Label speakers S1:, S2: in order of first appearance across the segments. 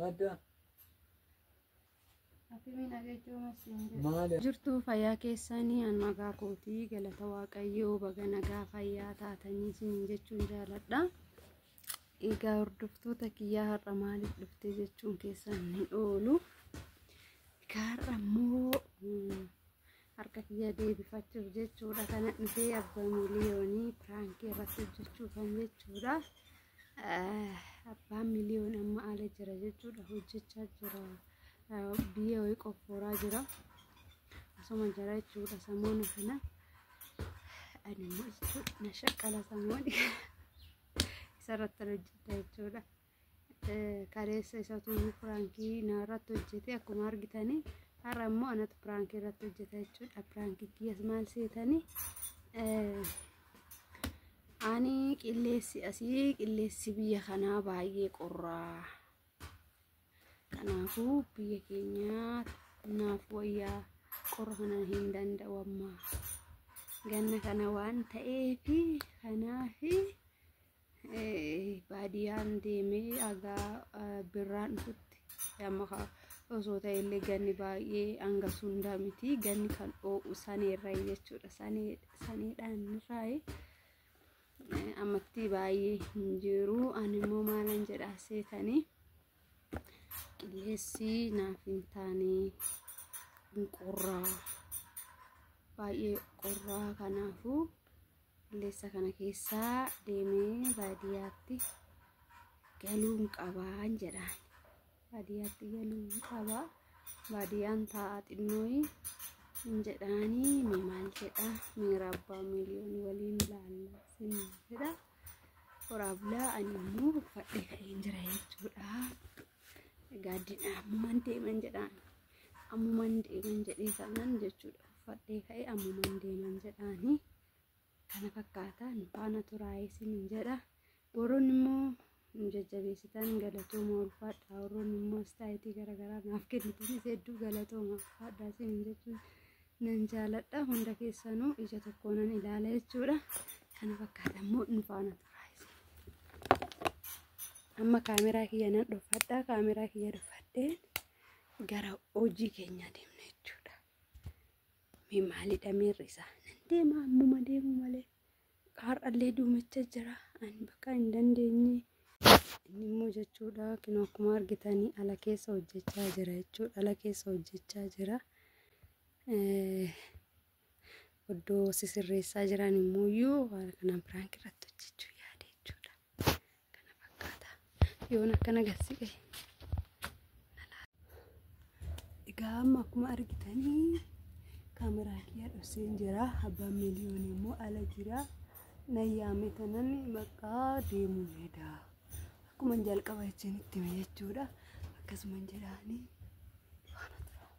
S1: Madda.
S2: jirtuu
S1: fayyaa
S2: keessanii an magaa kootii galata waaqayyoo baga nagaa fayyaa taatanii isiniin jechuun jaaladha egaa hordoftoota kiyyaa har'a maaliif dhuftee jechuun keessan hin oolu egaa har'a immoo harka kiyya deebifachuuf jechuudha kana dhufee abbaa miliyoonii piraankii irratti hojjechuuf kan jechuudha abbaan miliyoon amma ala jira jechuudha hojjechaa jira biyya wayii qoffooraa jira asuma jira jechuudha samoona kana ani immoo jechuudha na shaqqala samooni isarratti hojjedha jechuudha. kaleessa isatu piraankii na irratti hojjete akkuma argitanii har'a immoo anatu piraankii irratti hojjeta jechuudha piraankii kiyyas maal seetanii ani qilleessi asii qilleessi biyya kanaa baay'ee qorraa kanaafuu biyya keenyaa naaf wayyaa qorra kana hin danda'u ammaa ganna kana waan ta'eefi kanaafi baadiyaan deemee hagaa birraan dhufutti amma osoo ta'e illee ganni baay'ee hanga sundaa miti ganni kan oo'u saneerra jechuudha saneedhaan irraayi ammatti baay'ee hin jiru ani immoo maalan jedhaa seetanii qilleessi naaf hin taane hin qorraa baay'ee qorraa kanaafuu Qilleensa kana keessaa deemee baadiyyaatti galuun qabaan jedhaan. Baadiyyaatti galuun qabaa. Baadiyyaan taa'a xinnooyi hin jedhaanii ni maal jedha miira abbaa miliyoon waliin laallaa sin jedha. Horaa bulaa ani immoo uffadhee ka'een jira jechuudha. Egaa ammumaan deeman jedhaan. Ammumaan deeman jedhee kanan jechuudha. Fadhee ka'e ammumaan deeman jedhaani kana fakkaata nu faana turaa isinin jedha warroonni immoo nu jajjabeessitan galatooma ulfaadha warroonni immoo istaayitii garaagaraa naaf kennitanis hedduu galatooma ulfaadha isinin jechuun nan jaaladha hunda keessanuu ija tokkoonan ilaala jechuudha kana fakkaata immoo nu faana turaa isin amma kaameraa kiyya nan dhuffadha kaameraa kiyya dhuffadheen gara hojii keenya deemna jechuudha. Mee maalidha miirri isaa? Nan deema ammuma deemu malee har'allee duumicha jira ani bakka hin dandeenye. Inni immoo jechuudha kinoo akkuma argitanii ala keessa hojjechaa jira jechuudha ala keessa hojjechaa jira. Oddoo sisirreessaa jiran immoo iyyuu haala kanaan piraank irratti hojjechuu yaade jechuudha. Kana fakkaata. Yoon akkana gassiqe. Egaa amma akkuma argitanii kaameraa kiyya dhosseen jira. Abbaan miliyoon immoo ala jira. Nayyaame tanan bakka deemuu heda. Akkuma jalqaba jechuun itti hime jechuudha. Akkasuman jedhaanii waan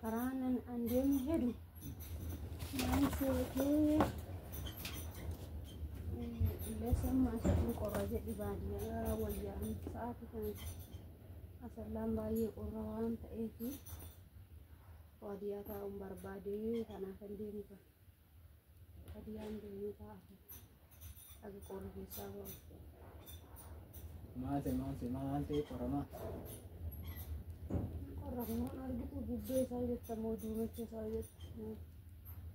S2: Karaanan an deemu hedu naan seetee illee maasa kun qorra jedhi baadiyyaa wayyaa sa'aati kan asallaan baay'ee qorra waan ta'eef baadiyyaa taa'uun barbaadee kanaaf an deemu kan. Hadiyaan deemee taa'aa haga qoorri keessaa ba'u. Maate
S1: maate maal ta'e qoramaa?
S2: Qorra kumaan argitu gubbee isaa jetta moo duumecha isaa jetta moo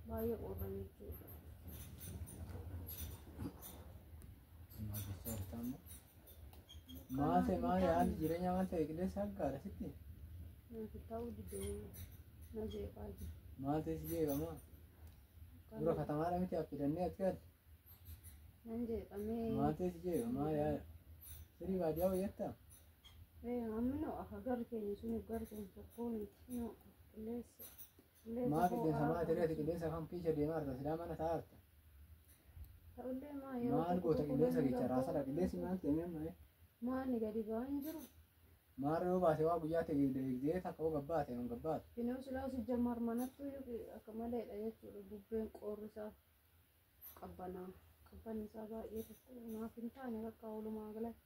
S2: baay'ee qorra jechuudha.
S1: Maate isaa bitaa immoo. Maate maali haalli jireenya maal ta'e qilleensa hanqaadha sitti? Nuti
S2: ta'uu didee na jeeqaa jira. Maal ta'e si jeeqama?
S1: Dura katamaadha miti affidannee as gaadde. Nan
S2: jeeqamee. Maal ta'e si jeeqama? Maali
S1: haala? Sirii baadiyyaa wayyatta? Ee
S2: hammi noo akka garri keenya sun garri keenya tokkoo miti noo qilleessa. Maa
S1: qilleensa maa tereeti qilleensa kam kiisha deemaa arta silaa mana taa'aa arta.
S2: Maal goota qilleensa kecha
S1: raasadha qilleensi maal ta'e amma ee. Maani gadi
S2: ba'aa hin jiru. Maarra yoo baate
S1: waa guyyaa ta'e eegdee takka hoo gabbaate hin gabbaatu. Binoo silaa si jammar
S2: manattu iyyuu akka maleedha jechuudha bubbeen qoorri isaa qabbanaa qabbanni isaa baay'ee tokko naaf hin taane bakka oolumaa galatti.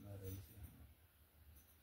S2: Maarra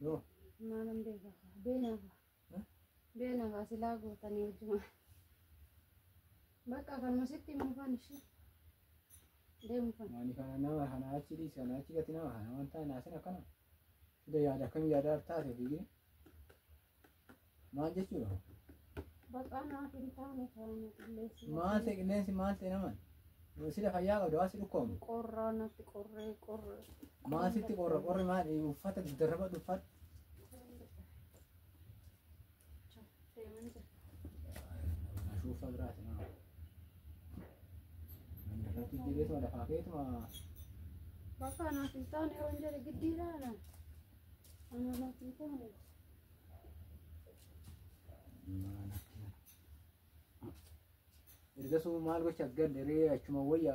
S1: Yoo. Maalan
S2: beeka kaa. Beena kaa. Eh? Beena kaa silaa gootanii hojjuma. Bakka kanuma sitti himuu faan ishee. Deemu faan. Ani kana nama kana
S1: achi dhiis kana achi gati nama kana wanta naasin akkana. Sida yaada akkamii yaada taate fiigine. Maal jechuudha? Baqaa
S2: naaf hin taane taane qilleensi. Maal ta'e qilleensi maal
S1: ta'e naman? Sila fayyaa qabda waan si dhukkoomu. Qorraa natti
S2: qorree qorre. Maal sitti
S1: qorra qorri maal uffata darraba dhuffadhu. Deeman jira. Ashuufa biraati nama. Namni irratti jireessuma lafaa keetuma.
S2: Baqaa naaf hin taane yoo hin jedhe giddiidhaana.
S1: Ergasuma maal gocha galle ree achuma wayya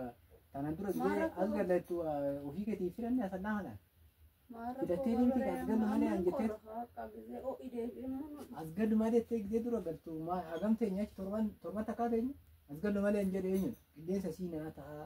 S1: tanan dura Maal gidee rakkoo? as gallattu ofii keetii filanne as annaa kanaan. Filattee deemti as gallu malee an jettee as gallu malee jettee gidee dura galtu maa hagam teenya achi torban torban takkaa teenya as gallu malee hin jedhe eenyu qilleensa sii naa tahaa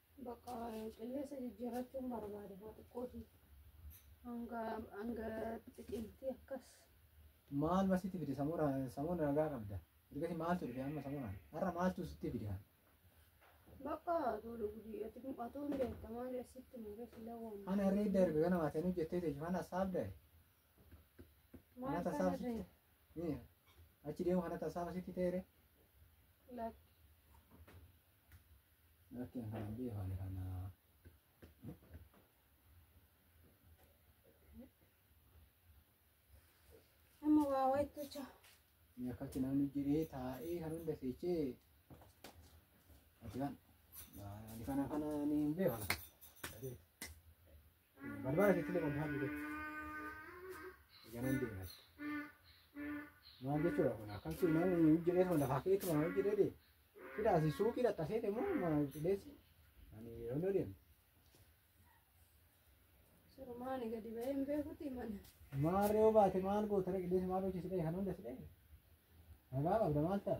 S1: Bakka
S2: qilleensa jijjiirrachuun barbaada haa xiqqoo ishii hanga hanga xiqiltii akkas. Maal
S1: ma sitti fide samuura samuura nagaa qabda. Ergasi maaltu dhufe amma samuuraan har'a maaltu sitti fide haa.
S2: Bakka tuulu gudii ati atuun beekta maal sitti mure sila waan. Ana reedda erga kana
S1: maatanii hojjettee ta'e faana saabda
S2: Maal Nata kana saafsitti. ta'e? Miya. Achi deemu
S1: kana tasaafa sitti ta'eere. Lakki. Lakki kana hin beekne kana.
S2: Amma waa wayitu jira. Miya akkatti
S1: namni jiree taa'ee kan hunda seechee. Ati kan. Ani kana kana ni hin beekne. Barbara sitti laqoon haa jiru. Ganan deemas. Maal jechuudha kun akkan si nama hin jedhee tuma lafaa kee tuma hin jedhee dee. Fida asi suuqii dhaqqasee deemu maal jedheesi. Ani yeroo inni deemu.
S2: Surumaani gadi ba'ee hin beekuti mana. Maal yoo baate
S1: maal goota dhaqi deesi maal hojii si dhaqe kan hunda si dhaqe. Nagaa qabda maal ta'a?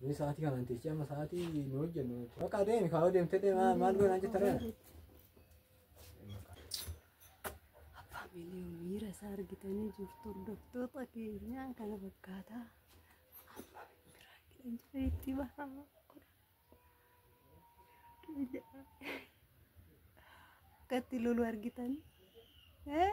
S1: Ni sa'aatii kana hin teessee amma sa'aatii nu hojjennu. Bakka adeemi kaa'oo deemtee deemaa maal goonaan jetta reera.
S2: Abbaa miliyoon miira isaa argitanii jirtu hordoftoota keenyaa kana fakkaataa. Abbaa biraa keenya itti bahama. Akkatti lolu argitan. Eh?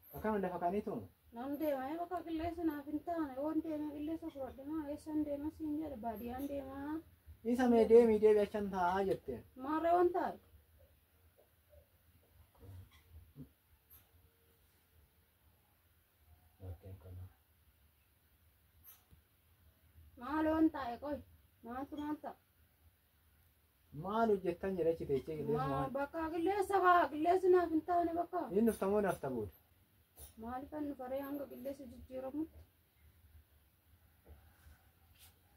S1: Akkam lafa kanitu? Nan deema ee bakka
S2: qilleensi naaf hin taane waan deemee qilleensa fudhadhe maa eessaan deema siin jedhe baadiyyaan deemaa Isa mee deemii
S1: deebi achan taa'aa jette. maarree waan taa'e.
S2: Maal waan taa'e qoy maaltu maal ta'a.
S1: Maal hojjettan jedha achi teechee qilleensi Maa waan. bakka qilleensa kaa
S2: qilleensi naaf hin taane bakka. Inni dhufta moo nafta booda.
S1: Maaliif
S2: kan nu faree hanga qilleensi jijjiiramutti?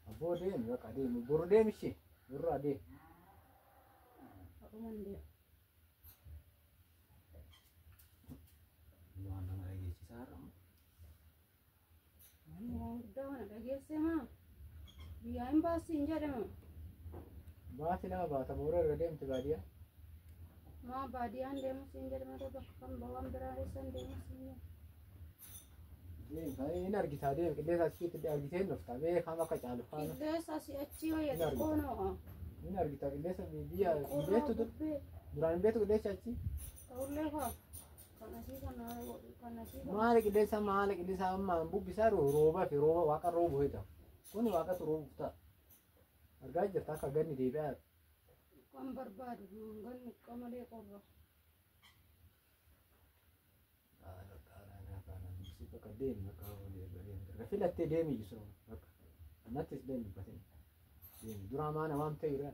S1: Abboo deemi bakka deemi. Boru deemi ishee. Borru adeemi.
S2: Akkuma hin deemu.
S1: Waan nama dhageessisaa har'a.
S2: Ammoo guddaa kana dhageessee maa? Biyyaa hin baassi hin jedhe moo?
S1: Baati nama baata moora irra deemti baadiyaa. Maa
S2: baadiyaan deemus hin jedhe malee bakka kan bawaan biraa eessan deemus hin jedhe. Deemta
S1: hin argitaa deem qilleensa achitti argitee hin dhufta bee kaam akka caalu kaam Qilleensa asii achii wayya
S2: Hin xiqqoo argita. noo. hin argita
S1: qilleensa biyya hin Qorraa beektu dur- bubbee duraan hin beektu qilleensa achi ta'ullee kaa.
S2: maala qilleensa maala
S1: qilleensa ammaan bubbisaa rooba fi rooba waaqa roobu hojjeta kun waaqatu roobuuf ta'a argaa jirta akka ganni deebi'aa
S2: Kan
S1: barbaadu ganni qamalee qorra. filattee deemi jisu nattis deemi batin deemi duraa maana waan ta'e irraa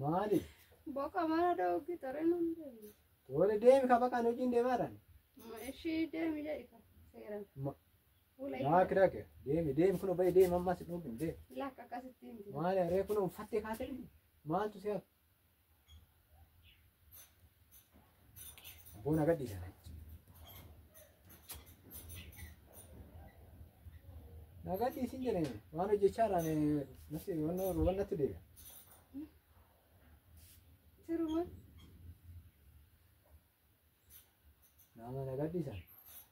S1: Maali? Boqa mana
S2: dhooggi ture nun deemu. Wali deemi ka
S1: baqaan hojiin deemaadhaan. Ishii
S2: deemi jedhi ka seeran. Ma- Fuula Yaa
S1: ishee kiraake deemi deemi kun bayi deemi ammas hin dhoogin deemi. lakka akkasitti hin deemu.
S2: Maali haree kun uffattee
S1: kaatee maaltu si hafe? Abboo na gadhiisa. Na gadhiisin jedhe waan hojjechaa irraan natti waan natti deebi'a.
S2: Siruma.
S1: Nama na gadhiisa.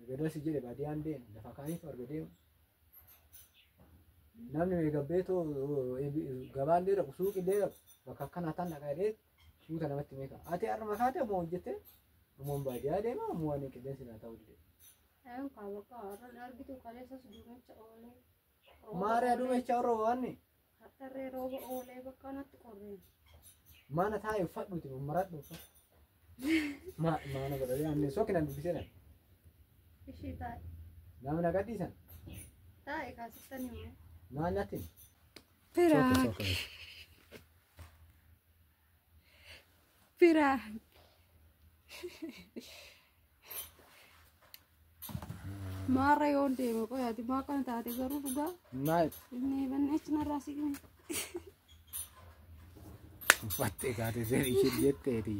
S1: erga dasi jedhe baadiyaan deemu lafa kaaniitu arga deemu namni meegabbeetoo gabaan dee dhaqu suuqi dee dhaqu bakka akkanaa tan dhaqaa dee suuta namatti meeqa ati harma kaate ammoo hojjette ammoo baadiyaa deema ammoo waan qilleensi naa ta'u dide Ayun kaa
S2: bakka har'an argitu kaleessas duumecha oolee. Maaree
S1: aduu meeshaa warra waanni. Hattarree rooba
S2: oolee bakka natti qorree.
S1: Maana
S2: taa'e
S1: uffadhuuti
S2: maradhu
S1: uffadhu. Maa maana godhanii aannan sookinaan dubbisee dha.
S2: Ishii taa'e. Nama na gadhiisan.
S1: Taa'e
S2: kaasiftan himu. Maal natti?
S1: Piraak.
S2: Biraa. Maarra yoo deeme qoyaati maa kana taate garuu dhugaa Maal inni
S1: banneechi
S2: narraa si gime.
S1: uffattee kaate seen ishee jetteeti.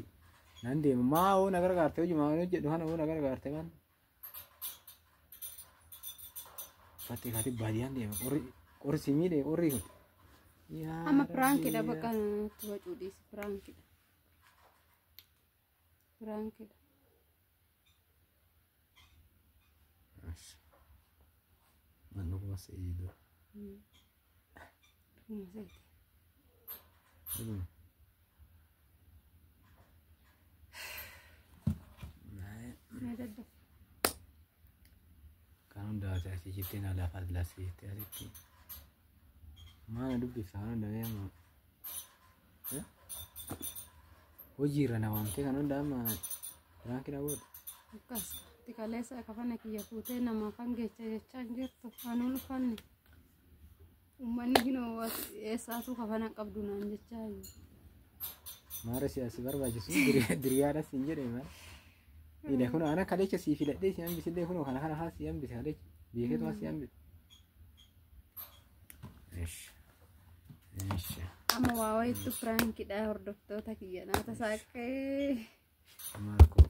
S1: Nan deema maa hoo na gargaarte hojii maa hojjedhu kana hoo na gargaarte kan. Fatti fatti baadiyaan deema qorri qorri si miidhe qorri kun. Yaa Amma
S2: piraankidha Rabbi, bakka itti bacuu dhiisi piraankidha. Piraankidha.
S1: yaa. Manni kuma seeyiidoo. Kan hundaa'ate asii jettee na lafa lasii jettee asitti. Maana dubbisa kan hundaa'e amma. Hojii irra na waamtee kan hundaa'e amma biraanki na booda. Akkas
S2: xiqqaleessa kafana kiyya fuutee namaaf hangeecha jechaa hin jirtu. Anuun uffanne. Uummanni hinoo eessaatuu kafana hin qabdu naan jechaa jiru.
S1: Maara siyaasi barbaachisu diriyaadha siin jedhe maal. Ile kun ana kalecha sii filadhee si hambise illee kunoo kana kana haa si hambise kalecha beeketu haa si hambise. Ishi. Ishi. Amma waa wayiitu
S2: piraankidha hordoftoota kiyya naata saaqqee. Maal
S1: koo.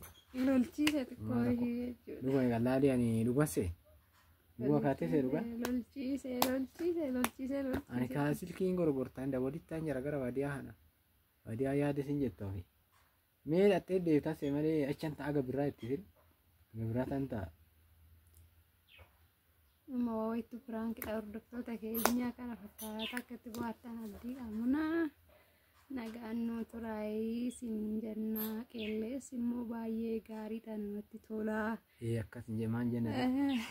S1: Lolchiisa
S2: xiqqoo ishee jechuudha. Dhuga egaa laalii ani
S1: dhugasse. Bu'a kaatee see dhuga. Lolchiise lolchiise lolchiise
S2: Ani lolchiise. kaa silkiin
S1: gorgortaan dawwadittaan jara gara baadiyaa kana. Baadiyaa yaada isin jettu ofi. Mee dhattee deebitaa see malee achan ta'a aga birraa itti fil. Aga birraa tan ta'a.
S2: Amma waa wayittu piraankidha hordoftoota keenyaa kana fakkaata akka itti bohaartan abdii qabna. Nagaan nu turaayii sin jenna qeellees immoo baay'ee gaariidha namatti tola. Ee akkas hin jedhe
S1: maal jenna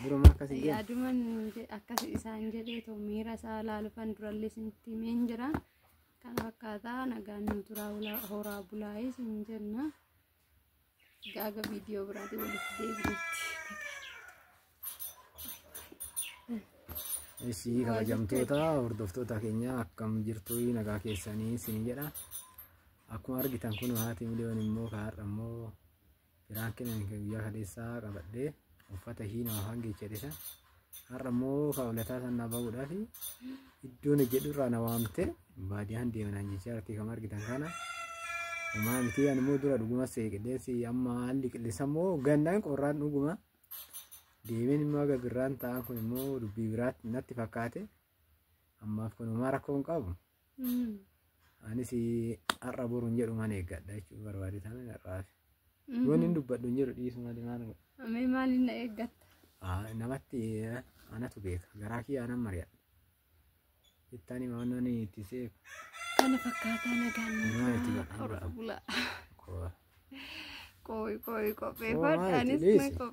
S1: duruma akkas hin jedhe Yaaduman je-
S2: akkas isaan jedhee too miira isaa laalufan durallee isinitti himee hin jira. Kana fakkaataa nagaan nu turaa horaa bulaayii sin jenna. Gaaga viidiyoo biraatiin walitti deebinutti.
S1: Ishii kabajamtoota hordoftoota keenya akkam jirtu nagaa keessanii siin jedha. Akkuma argitan kun haati miliyoon immoo kaarra immoo firaan kennan guyyaa kaleessaa qabadhee uffata ishii nama hangee jedhisa. har'a immoo kaawlataa sana bahuudhaaf iddoon jedhu irraa na waamte baadiyaan deemanaan jechaa irratti kan argitan kana homaa miti ani immoo dura dhuguma se'e qilleensi amma haalli qilleensa immoo gannaan qorraan dhuguma deemeen immoo aga birraan ta'an kun immoo dubbii biraatti natti fakkaate ammaaf kun homaa rakkoo hin qabu Anis har'a boru hin jedhu mana eeggadha jechuun barbaade taane har'aaf. Wanni hin dubbadhu hin jedhu dhiisu malee maal godha. Amee maaliin na
S2: eeggatta? Ah, Namatti
S1: eh, anatu beeka garaa kiyya anan mari'adha. Ittaan hima waan ani itti seef Kana fakkaataa
S2: nagaan Nagaan itti nagaa. baqa. Qorra bulaa. koo. Qooyi qooyi Qoomaa qopheeffadha. itti Anis dhiisi. na